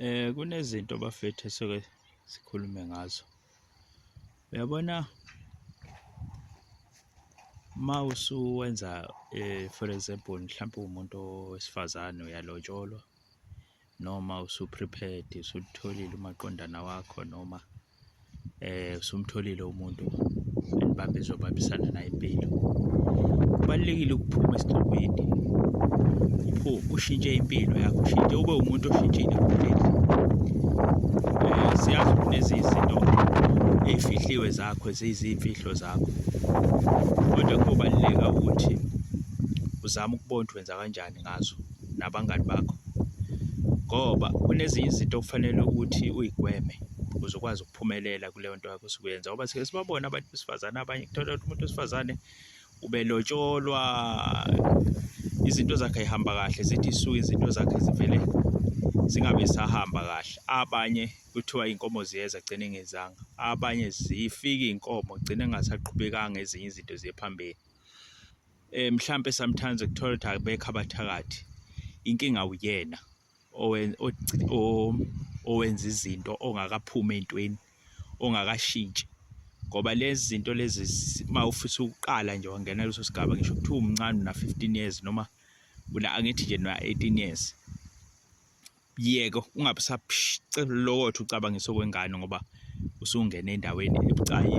Eh kunezinto bafethu esuke sikhulume ngazo. Uyabona uma usuwenza eh for example mhlawumbe umuntu wesifazane uyalotsholwa noma usuprepared usutholile umaqondana wakho noma eh usumtholile umuntu enibambe zobabisana naye impilo kubalekile ukuphuma esigcokweni upho ushintshe impilo yakho ushintshe ube umuntu oshintshile kuphela eh siyazi kunezinto ezifihliwe zakho ezizimfihlo zakho kodwa kubaleka ukuthi uzama ukubona ukuthi wenza kanjani ngazo nabangani bakho ngoba kunezinye izinto okufanele ukuthi uyigweme ukuze ukwazi ukuphumelela kuleyo nto yakho osuke uyenza ngoba sike sibabona abantu besifazane abanye kuthola ukuthi umuntu wesifazane ubelotsholwa izinto zakhe ayihamba kahle zithi isuke izinto zakhe zivele zingabe sahamba kahle abanye kuthiwa inkomo ziyeza gcine ngezanga abanye zifike inkomo gcine ngasaqhubekanga ezinye izinto ziye phambili eh mhlambe sometimes ukuthola ukuthi akubekho abathakathi inkinga uyena owenza izinto ongakaphumi entweni ongakashintshi ngoba lezi zinto lezi uma ufisa ukuqala nje wangena leso sigaba ngisho kuthiwa umncane una 15 years noma una angithi nje una 18 years yeke ungabe usaphicelolokotha ucabangisa okwengane ngoba usungene endaweni ebucayi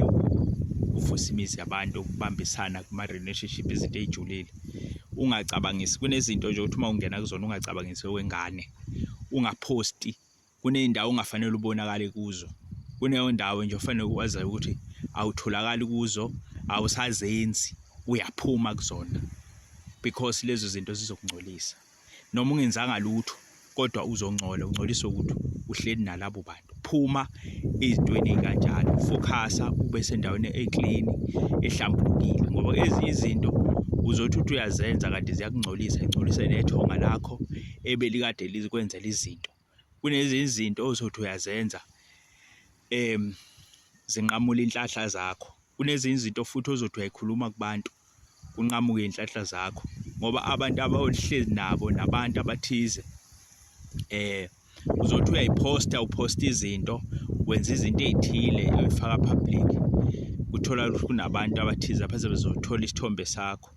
uvusa imizi yabantu ukubambisana kuma-relationship izinto ey'julile ungacabangisi kunezinto nje ukuthi uma ungena kuzona ungacabangisi okwengane ungaphosti kuney'ndawo ongafanele ubonakale kuzo kuneyo ndawo nje ofanele ukwazayo ukuthi awutholakali kuzo awusazenzi uyaphuma kuzona because lezo zinto zizokungcolisa noma ungenzanga lutho kodwa uzongcola ungcoliswe ukuthi uhleli nalabo bantu phuma ezintweni kanjalo focusa ube sendaweni eclean ehlambulukile ngoba ezinye izinto uzothi uthi uyazenza kanti ziyakungcolisa ingcolise nethonga lakho ebelikade lizikwenzela izinto Kunezinye izinto ozothi uyazenza zinqamule inhlahla zakho, kunezinye izinto futhi ozothi uyayikhuluma kubantu kunqamuke iy'nhlahla zakho ngoba abantu abawuhleli nabo nabantu abathize uzothi uyayiphosta uphosta izinto wenza izinto ey'thile uyifaka public kuthola ukuthi kunabantu abathize abazobe bezothola isithombe sakho.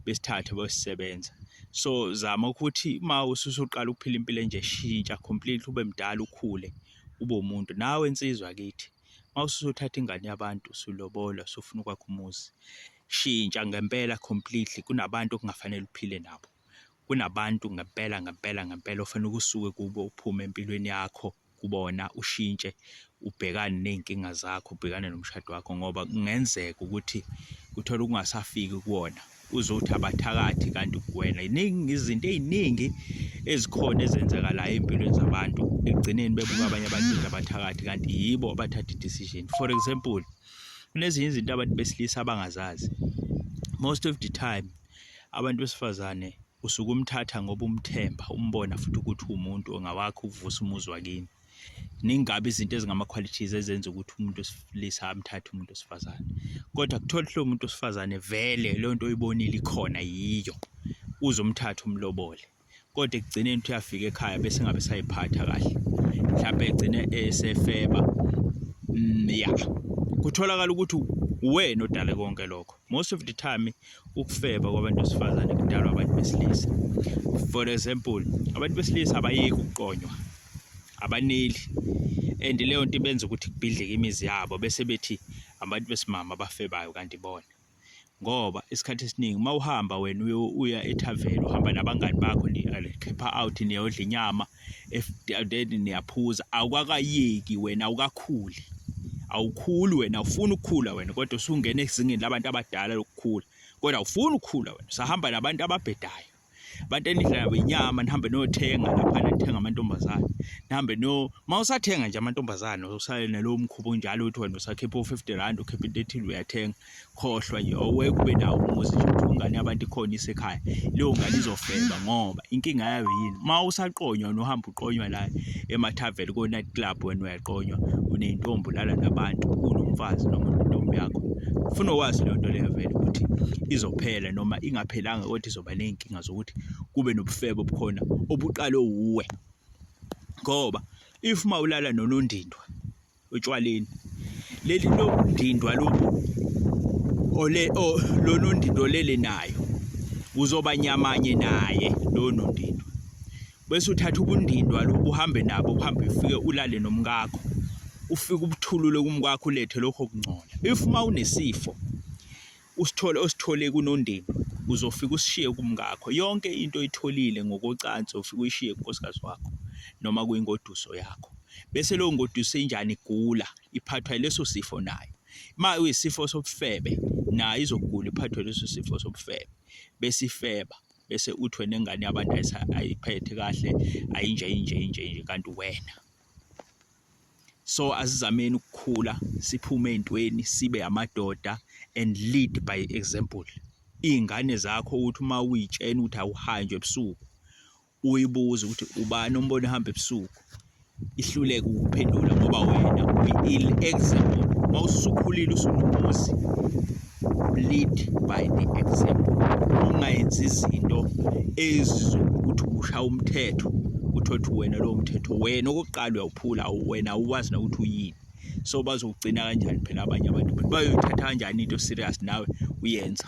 besithathe besisebenza so zama ukuthi uma ususuqala ukuphila impilo enje shintsha completely ube mdala ukhule ube umuntu nawe insizwa kithi uma ususuthatha ingane yabantu usulobola usufuna ukwakha umuzi shintsha ngempela completely kunabantu okungafanele uphile nabo kunabantu ngempela ngempela ngempela ofanele ukusuke kubo uphume empilweni yakho kubona ushintshe ubhekane ney'nkinga zakho ubhekane nomshado wakho ngoba kungenzeka ukuthi uthole ukungasafiki kuwona uzothi abathakathi kanti kuwena iningi izinto ey'ningi ezikhona ezenzakalayo ey'mpilweni zabantu ekugcineni bebuka abanye abantu abathakathi kanti yibo abathatha i-decision for example kunezinye izinto abantu besilisa abangazazi most of the time abantu besifazane usuke umthatha ngoba umthemba umbona futhi ukuthi uwumuntu ongawakho ukuvusa umuzi wakini ningabi izinto ezingama-qualities ezenza ukuthi umuntu wesilisa amthathe umuntu wesifazane kodwa kuthola lowo muntu wesifazane vele leyo nto oyibonile ikhona yiyo uzomthatha umlobole kodwa ekugcineni uthi uyafika ekhaya bese ngabe sayiphatha kahle mhlawumbe egcine esefeba mm, ya kutholakala ukuthi uwena odale konke lokho most of the time ukufeba kwabantu besifazane kudalwa abantu besilisa for example abantu besilisa abayeki ukuqonywa abaneli and leyo nto ibenza ukuthi kubhidleke imizi yabo bese bethi abantu besimama abafebayo kanti bona ngoba isikhathi esiningi uma uhamba wena uya ethaveni uhamba nabangani bakho nikhipha out niyodla inyama then niyaphuza awukakayeki wena awukakhuli awukhuli wena awufuni ukukhula wena kodwa usungena ezingeni labantu abadala lokukhula kodwa awufuni ukukhula wena usahamba nabantu ababhedayo abantu enidla nabo inyama nihambe niyothenga lapha nithenga amantombazane nihambe no uma usathenga nje amantombazane usale nalowo mkhuba onjalo ukuthi wena usakhipha u-fifty rand ukhipha into ethile uyathenga khohlwa nje awuye kube nawo umuzi nje ukuthi ingane yabantu ikhona isekhaya leyo ngane izofeba ngoba inkinga yayo yini uma usaqonywa nohamba uqonywa la emathaveli ko-night club wena uyaqonywa uney'ntombi ulala nabantu unomfazi noma intombi yakho funa wazi leyo nto leyo vele ukuthi izophela noma ingaphelanga kodwa izoba ney'nkinga zokuthi kube nobufebe obukhona obuqalwe wuwe ngoba if uma ulala nonondindwa otshwaleni leli lodindwa lo ole lo nondindo lele nayo uzoba nyamanye naye lo nondindo bese uthatha ubundindwa lo uhambe nabo uhambe ufike ulale nomkakho ufike ubuthulule kumkakho ulethe lokho kungcola if uma unesifo usithole osithole kunondini uzofika usishiye kumngakho yonke into oyitholile ngokocansi ufika uyishiye kunkosikazi wakho noma kuyingoduso yakho bese leyo ngoduso injani igula iphathwa yileso sifo nayo uma uyisifo sobufebe nayo izogula iphathwe leso sifo sobufebe bese ifeba bese uthwe nengane yabantu ayiphethe kahle ayinje inje inje inje kanti wena so asizameni ukukhula siphume ezintweni sibe amadoda and lead by example izingane zakho ukuthi uma uyitshena ukuthi awuhanjwe ebusuku uyibuze ukuthi ubani ombona ehamba ebusuku ihluleke ukuphendula ngoba wena uyi-ill example uma usukhulile usunomuzi lead by the example ungayenzi izinto ezizokuthi ushaya umthetho uthole ukuthi wena lowo mthetho wena okokuqala uyawuphula wena awuwazi nokuthi uyini so bazogcina kanjani phela abanye abantu bayoyithatha kanjani into serious nawe uyenza